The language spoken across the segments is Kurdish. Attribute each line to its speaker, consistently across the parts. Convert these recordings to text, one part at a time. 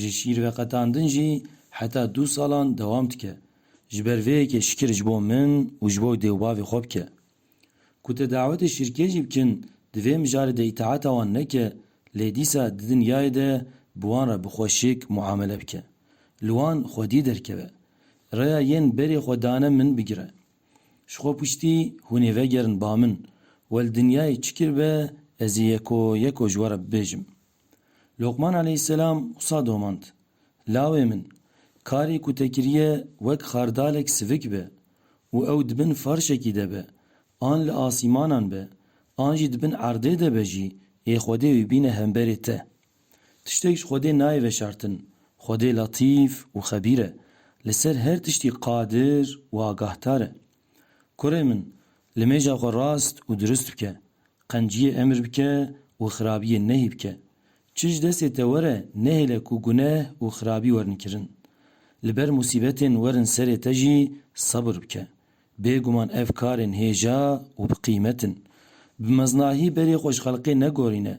Speaker 1: Ji şîrveqetandin jî heta du salan dewam dike. Ji ber vê yekê şikir ji bo min û ji bo dêwbavê xwe bike. Ku te dawetê şîrkê jî bikin di vê mijarê de îtaata wan neke lê dîsa di dinyayê de bi wan re bi xwe şik muamele bike. Li wan xwedî derkeve. Rêya yên berê xwe dane min bigire. Ji xwe piştî hûn ê vegerin ba min. We li dinyayê çi kiribe ez ê yeko yeko ji we re bibêjim. Lokman aleyhîsselam wisa domand, Lawê min, karê ku te kiriye wek xardalek sivik be û ew di bin ferşekî de be, an li asîmanan be, an jî di bin erdê de be jî yê Xwedê wî bîne hemberê te. Tiştek ji Xwedê nayê veşartin, Xwedê letîf û xebîr e, li ser her tiştî qadir û agahtar e. Kurê min, limêja xwe rast û dirust bike, qenciyê emir bike û xirabiyê nehî bike. Çi ji destê te were nehêle ku guneh û xirabî werin kirin. Li ber musîbetên werin serê te jî sebir bike. Bêguman ev karên hêja û bi qîmet in. Bi meznahî berê xwe ji xelkê negorîne,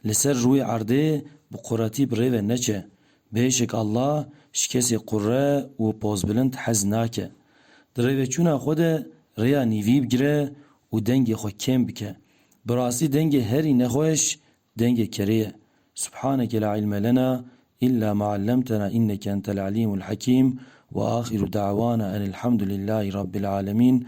Speaker 1: li ser rûyê erdê bi quretî bi rê ve neçe, Bêşik Allah ji kesê qurre û pozbilind hez nake. Di rêveçûna xwe de rêya nîvî bigire û dengê xwe kêm bike. Bi rastî dengê herî nexweş dengê kerê ye. Subhaneke la ilme lena îlla ma ellemtena înneke entel elîmul hekîm. Wa axiru de'wana enilhamdulillahî rabbil alemîn.